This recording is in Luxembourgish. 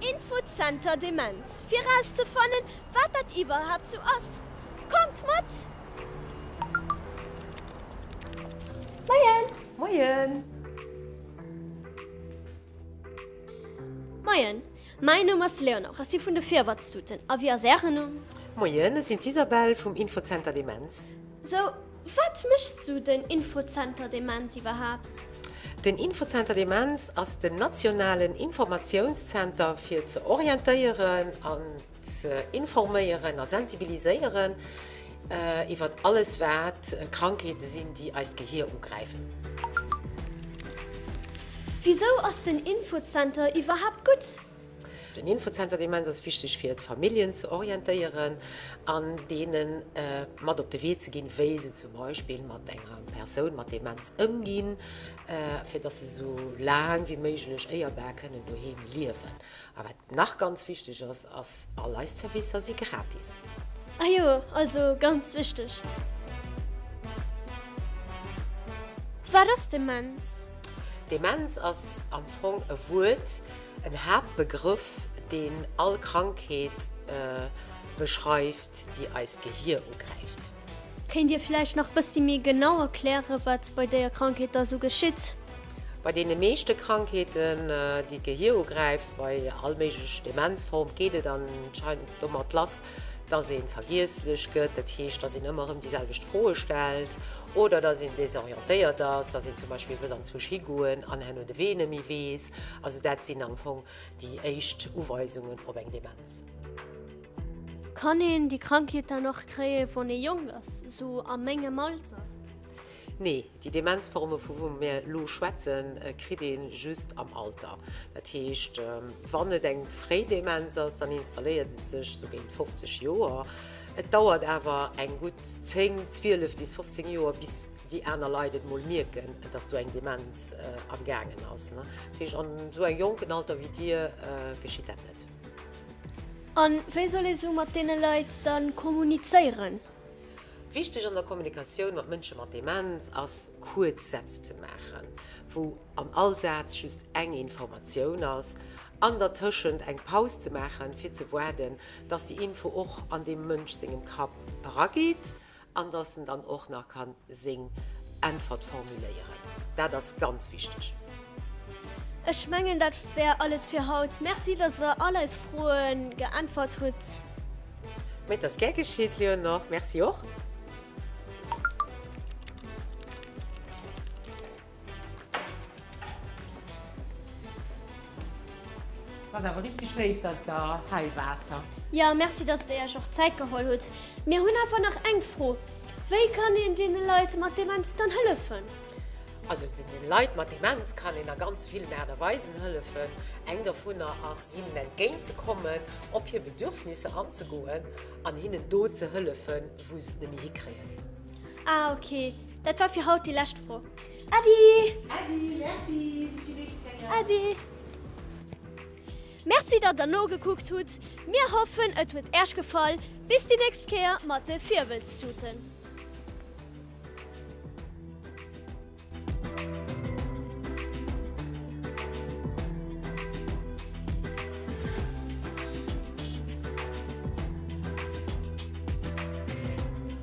Infozenter Demenz fir erauszefannen, wat dat iwwerhaapt sou ass. Kommt mat! Moien! Moien! Moien! Mäin Numm ass Léonore. Ech si vun de Virwëtztuten. A wie ass Ären Numm? Moien! Ech sinn d'Isabelle vum Infozenter Demenz. Sou, Wat mécht sou den Infozenter Demenz iwwerhaapt? Den Infozenter Demenz ass den nationalen Informatiounszenter fir ze orientéieren an ze informéieren a sensibiliséieren iwwert alles wat Krankheete sinn déi eist Gehier ugräifen. Wisou ass den Infozenter iwwerhaapt gutt? Den Infozenter Demenz ass wichteg fir d'Familljen ze orientéieren an deene mat op de Wee ze ginn, wéi se zum Beispill mat enger Persoun mat Demenz ëmginn, fir datt se esou laang wéi méiglech éierbar kënnen doheem liewen. A wat nach ganz wichteg ass, ass, All eis Zerwisser si gratis. Ah jo, also ganz wichteg. Wat ass Demenz? Demenz ass am Fong e Wuert, En Haaptbegrëff, deen all Krankheet beschreift, déi eist Gehier ugräift. Kéint Dir vläicht nach bëssi méi genau erklären, wat bei déier Krankheet da sou geschitt? Bei deene meeschte Krankheeten, déi d'Gehier ugräift, bei all méiglech Demenzform, geet et anscheinend domat lass, dass ee vergiesslech gëtt, dat heescht, dass een ëmmer erëm déi selwecht Froe stellt oder dass een desorientéiert ass, dass een zum Beispill wëll anzwousch higoen an herno de Wee net méi weess. Also dat sinn am Fong déi éischt Uweisungen op eng Demenz. Kann een déi Krankheet dann och kréie wann ee jonk ass, sou a mengem Alter? Nee, déi Demenzforme vu wou mir elo schwätzen, kritt ee just am Alter. Dat heescht, wann et eng fréi Demenz ass, dann installéiert et sech sou géint 50 Joer. Et dauert awer eng gutt 10, 12 bis 15 Joer bis. déi aner Leit et mol mierken, dass do eng Demenz am gaangen ass. Dat heescht, an esou engem jonken Alter wéi Dir geschitt dat net. A wéi soll ee sou mat deene Leit da kommunizéieren? Wichteg an der Kommunikatioun mat Mënsche mat Demenz ass, kuerz Sätz ze maachen, wou an all Saz just eng Informatioun ass, an dertëschent eng Paus ze maachen, fir ze waarden, dass déi Info och an deem Mënsch sengem Kapp erageet. An dass en dann och nach kann seng Äntwert formuléieren. Dat ass ganz wichteg. Ech mengen dat wär alles fir haut. Merci dass der all eis Froen geäntwert hutt. Mee et ass gär geschitt Léonore. Merci och. Ass awer richteg léif dass der hei waart. Jo, merci dass der iech och Zäit geholl hutt. Mir hunn einfach nach eng Fro, Wéi kann een deene Leit mat Demenz dann hëllefen? Also den Leit mat Demenz kann een a ganz villen Aart a Weisen hëllefen. Eng dovunner ass hinnen entgéint ze kommen, op hir Bedürfnisser anzegoen an hinnen do ze hëllefen wou se et net méi hikréien. Ah ok. Dat war fir haut déi lescht Fro. Äddi! Äddi, merci! Bis déi nächst Kéier! Äddi! Merci, datt der nogekuckt hutt. Mir hoffen, et huet Äech gefall. Bis déi nächst Kéier mat de Virwëlztuten!